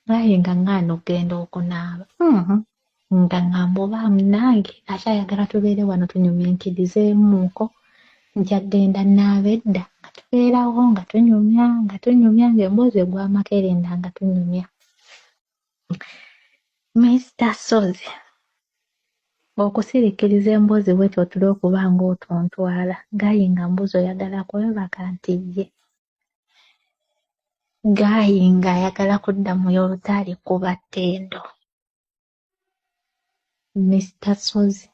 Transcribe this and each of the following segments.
naye nga ŋŋaana okugenda okunaaba mm-hmm. nga ŋŋamba oba munange akyayagala tubeere wano tunyumyankirizeemuuko nja kugenda naaba edda nga tubeerawo nga tunyumya nga tunyumya ng'emboozi egw'amakerenda nga tunyumya Minisita Ssozi okusirikiriza emboozi bwetyo otule okuba ng'otontwala gaayi nga mbuzi oyagala kwebaka nti ye gaayi ng'ayagala kudda mu yolutaali kuba ttendo. Mister Ssozi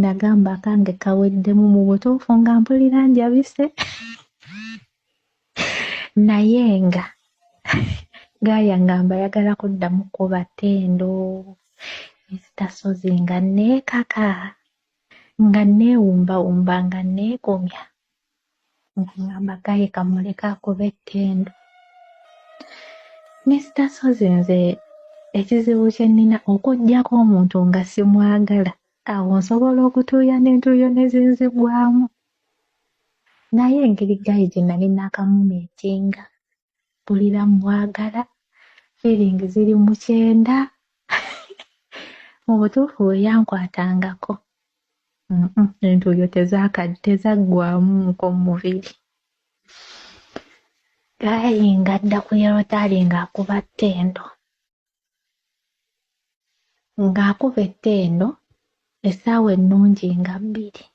nagamba akange kaweddemu mu butuufu nga mpulira njabise naye nga gaaya ngamba yagala kuddamu kuba ttendo Mister Ssozi nga neekaka nga neewumbawumba nga neekomya ng'omwama gaye kamuleka akuba ettendo misita sozi nze ekizibu kye nnina okuggyako omuntu nga simwagala awo nsobola okutuuya n'entuuyo ne zinzigwamu naye engeri gaye gye nali naakamumiitinga mpulira mmwagala feeling ziri mu kyenda mu butuufu we yankwatangako entuuyo tezaggwamu nko mu mubiri gaayi nga adda ku yolotari ng'akuba ttendo ng'akuba ettendo essaawa ennungi nga bbiri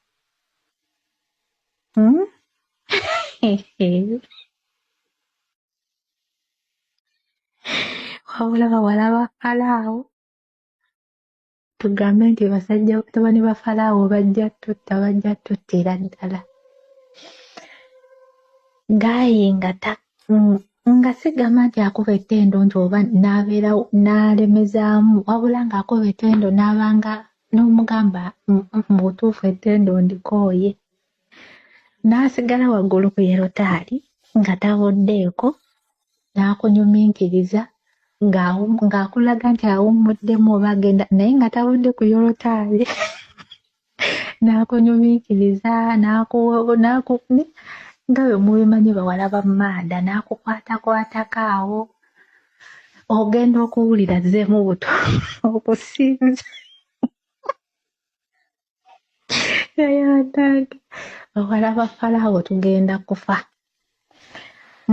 hmm? wabula bawala ba falaawo tugambe nti basajja batabani ba falaawo bajja tutta bajja tuttira ddala gaayi nga ta mm, nga sigamba nti akuba ettendo nti oba n'abeera n'alemezaamu wabula ng'akuba ettendo n'abanga n'omugamba mm, mm, mu butuufu ettendo ndikooye n'asigala waggulu ku yerotaali nga taboddeeko n'akunyuminkiriza ng'akulaga nti awummuddemu oba agenda naye nga tawudde ku yolotaali n'akunyuminkiriza n'akukuni nga bwe mubimanyi bawala ba maada n'akukwatakwatako awo ogenda okuwulira zzeemu buto okusinza yayadange owalaba falawo tugenda kufa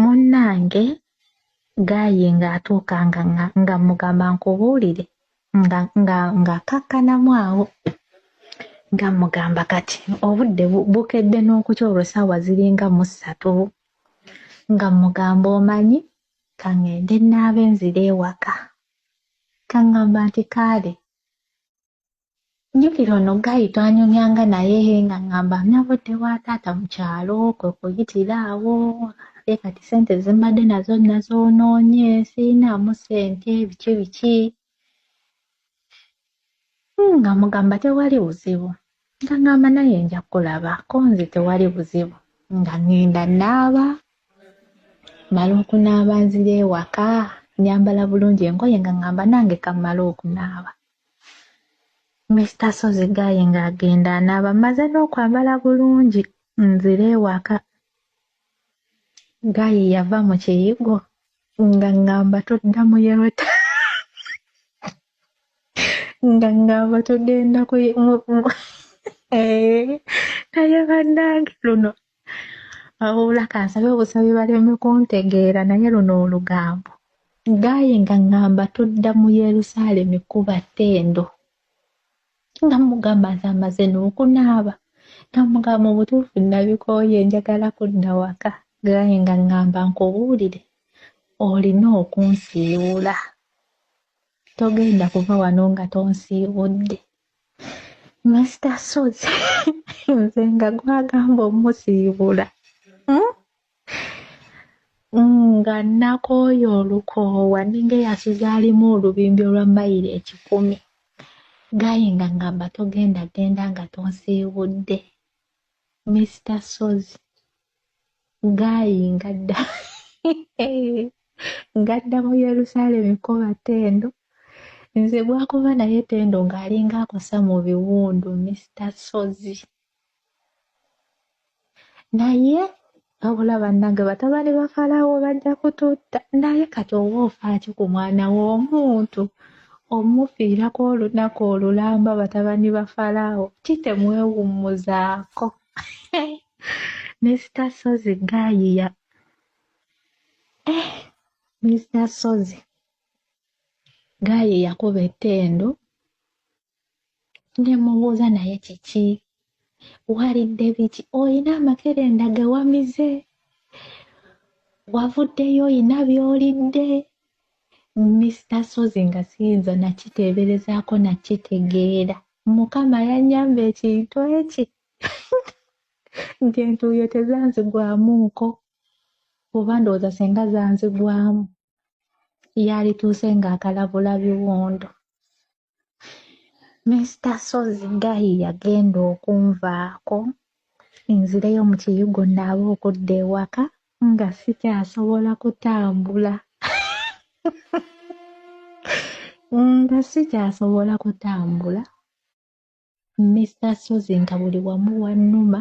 munnange gayi ng'atuuka nga nga mugamba nkubuulire nga nga ng'akakkanamu awo nga mugamba kati obudde bukedde n'okutya olwo saawa ziringa mu ssatu nga mugamba omanyi kaŋŋende naabe nzira ewaka kaŋŋamba nti kaale Njukira ono ggayi twanyumyanga naye nga ŋŋamba nnabodde wa taata mu kyalo kwe kuyitira awo ate kati ssente ze mbadde nazo nazoonoonye sirinaamu ssente biki biki hmm, nga mugamba tewali buzibu nga ŋŋamba naye nja kulaba ko nze tewali buzibu nga ŋŋenda naaba mala okunaaba nzira ewaka nyambala bulungi engoye nga ŋŋamba nange kammala okunaaba Mister Sozi Guy ng'agenda anaaba mmaze n'okwambala bulungi nzire ewaka. Guy yava mu kiyigo nga ngamba todda mu yellow nga ngamba togenda ku eh, naye bannange luno wabula kansabe obusabi baleme kuntegeera naye luno olugambo gaye nga ngamba tudda mu yerusaalemi kuba tendo nga mugamba nti amaze n'okunaaba nga mugamba mu butuufu nabikooye njagala kudda waka gaye nga ngamba nkubuulire olina okunsiiwula togenda kuva wano nga tonsiibudde Mister Sozi nze nga gwagamba omusiibula hmm? nga nakooya olukoowa ninga eyasuzaalimu olubimbi olwa mayiro ekikumi gaye nga ngamba togenda genda nga tonsiibudde Mister Sozi ng'ayinga dda ng'adda mu yerusaalemi kukoba tendo nze gwakuba naye tendo ng'alinga akosa mu biwundu mister sozi naye wabula bannange batabani ba falawo bajja kututta naye kati oba ofaaki ku mwana w'omuntu omufiirako olunaku olulamba batabani ba falawo kitemwewummuzaako Mr. Sozi gayiya eh, Mr. Sozi gayiya kuba ettendo nemubuuza naye kiki walidde biki olina amakerenda gewamize wavuddeyo olina byolidde Mr. Sozi nga siyinza nakiteeberezaako nakitegeera mukama yanyamba ekintu eki nti entuuyo tezanzigwamu nko oba ndowooza singa zanzigwamu yalituuse ng'akalabula biwundo misita sozi gayi yagenda okunvaako nzireyo mu kiyigo naabe okudda ewaka nga sikyasobola kutambula nga sikyasobola kutambula Mr Sozi nga buli wamu wannuma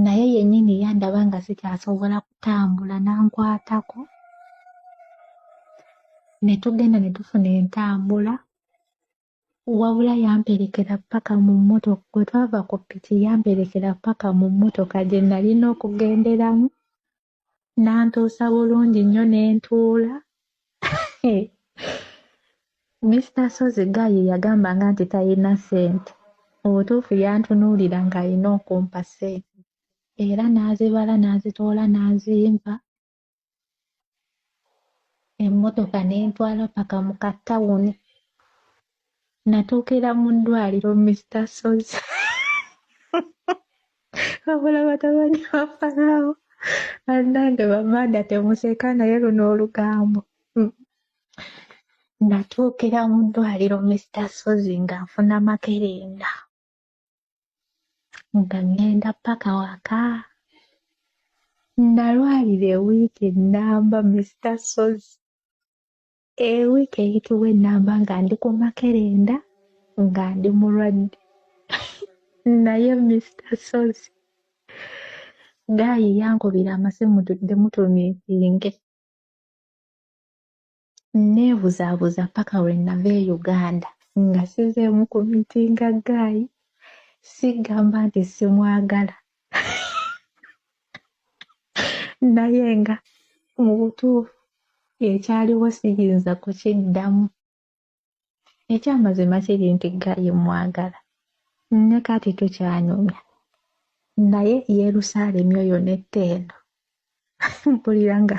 naye yennyini yandaba nga sikyasobola kutambula n'ankwatako ne tugenda ne tufuna entambula Wabula yamperekera ppaka mu mmotoka bwe twava ku ppiki yamperekera ppaka mu mmotoka gye nalina okugenderamu n'antuusa bulungi nnyo ne ntuula Mister Ssozi Gayi yagambanga nti talina ssente mu butuufu yantunuulira ng'alina okumpa ssente era n'azibala n'azitoola n'azimpa emmotoka ne ntwala paka mu ka tawuni natuukira mu ddwaliro mista sozi wabula batabani bafanaawo bannange bamanda temuseka naye luno olugambo hmm. natuukira mu ddwaliro mista sozi nga nfuna makerenda nga ŋŋenda paka waka nalwalira ewiiki ennamba mista sozi ewiiki eyitibwa ennamba nga ndi ku makerenda nga ndi mulwadde naye mista sozi gaayi yankubira amasimu tudde mutumiitinge nneebuzaabuza paka lwe nava e Uganda nga sizeemu ku mitinga gaayi sigamba nti simwagala naye nga mu butuufu ekyaliwo siyinza kukiddamu. ekyamazima kiri nti gayi mwagala ne kati tukyanyumya naye yerusaalemi oyo netta eno mpulira nga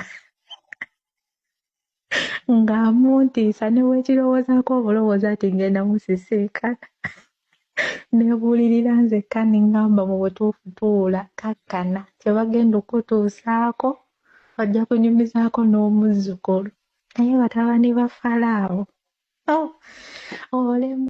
nga muntiisa newekirowoozaako obulowooza ti ngenda musisinkana nebuulirira nzekka nengamba mu butuufu tuula kakkana kyebagenda okutuusaako ojja kunyumizaako n'omuzzukulu naye batabani ba falaawo oh, olemu